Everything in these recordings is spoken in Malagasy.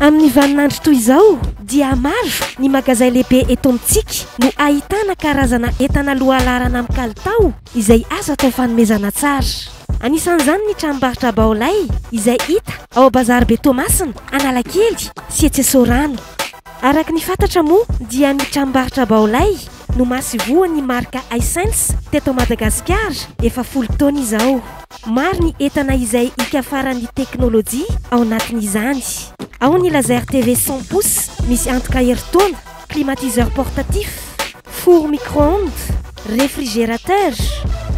Amin'ny vaninandro toy izao dia maro ny magazay lehibe eto amintsika no ahitana karazana entana lohalaharana amin'ny kalitao izay azo atao fanomezana tsara. Anisan'izany ny tranombarotra Baolay izay hita ao Bazaribe Toamasina, Analakely sy etsy Sorano. Araka ny fantatra moa dia ny tranombarotra Baolay no mahasivoan' i Marc Haissens teto Madagasikara efa folo taona izao. Maro ny entana izay hikafaran' ny teknolojia ao anatin' izany. Ao ny laser TV cent pouces misy antoka herintaona, climatiseur portatif, four micro-ondes, refrigerateur,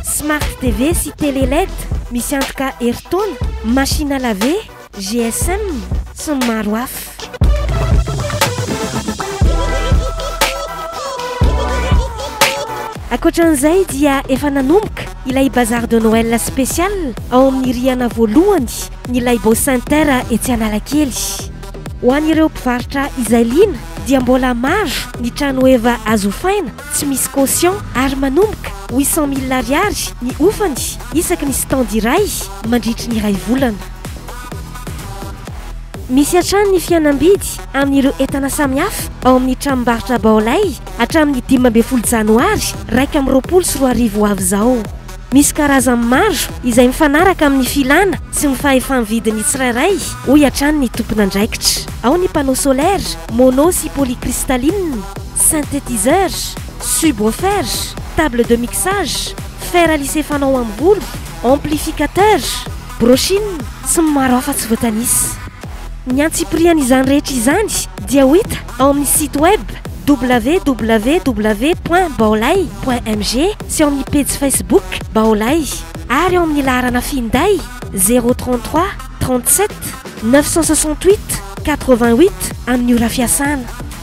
smart TV sy télé led misy antoka herintaona, machine à laver, GSM sy ny maro hafa. Ankoatra an'izay dia efa nanomboka ilay bazar de Noël spécial ao amin'ny rihana voalohany ny Laibo Center etsy Analakely. Ho an'ireo mpivarotra izay liana dia mbola maro ny trano eva azo hofaina tsy misy caution ary manomboka huit cent mille ariary ny hofany isaky ny stand iray mandritry ny iray volana. Misy hatrany ny fihenam-bidy amin'ireo entana samihafa ao amin'ny tranombarotra Baolay hatramin'ny dimy ambin'ny folo janoary iraika amby roapolo sy roa arivo ho avy izao. Misy karazany maro izay mifanaraka amin'ny filàna sy ny fahefa-mividin'ny tsirairay, hoy hatrany ny tompon'andraikitra. Ao ny panneau solaire, mono sy polycristalline, synthétiseur, subwoofer, table de mixage, fer lissé fanao amin'ny volo, amplificateur, Brochine, tsy ny maro hafa tsy voatanisa. Ny antsipirian' izany rehetra izany dia ho hita ao amin' ny site web www point baolay point mg sy ao amin' ny pejy Facebook Baolay ary ao amin' ny laharana finday zéro trente trois trente sept neuf cent soixante huit quatre vingt huit amin' ny ora fiasana.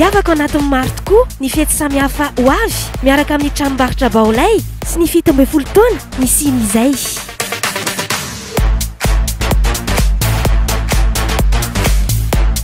Hiavaka ao anatin'ny maro tokoa ny fety samihafa ho avy miaraka amin'ny tranombarotra Baolay sy ny fito ambin'ny folo taona nisian'izay.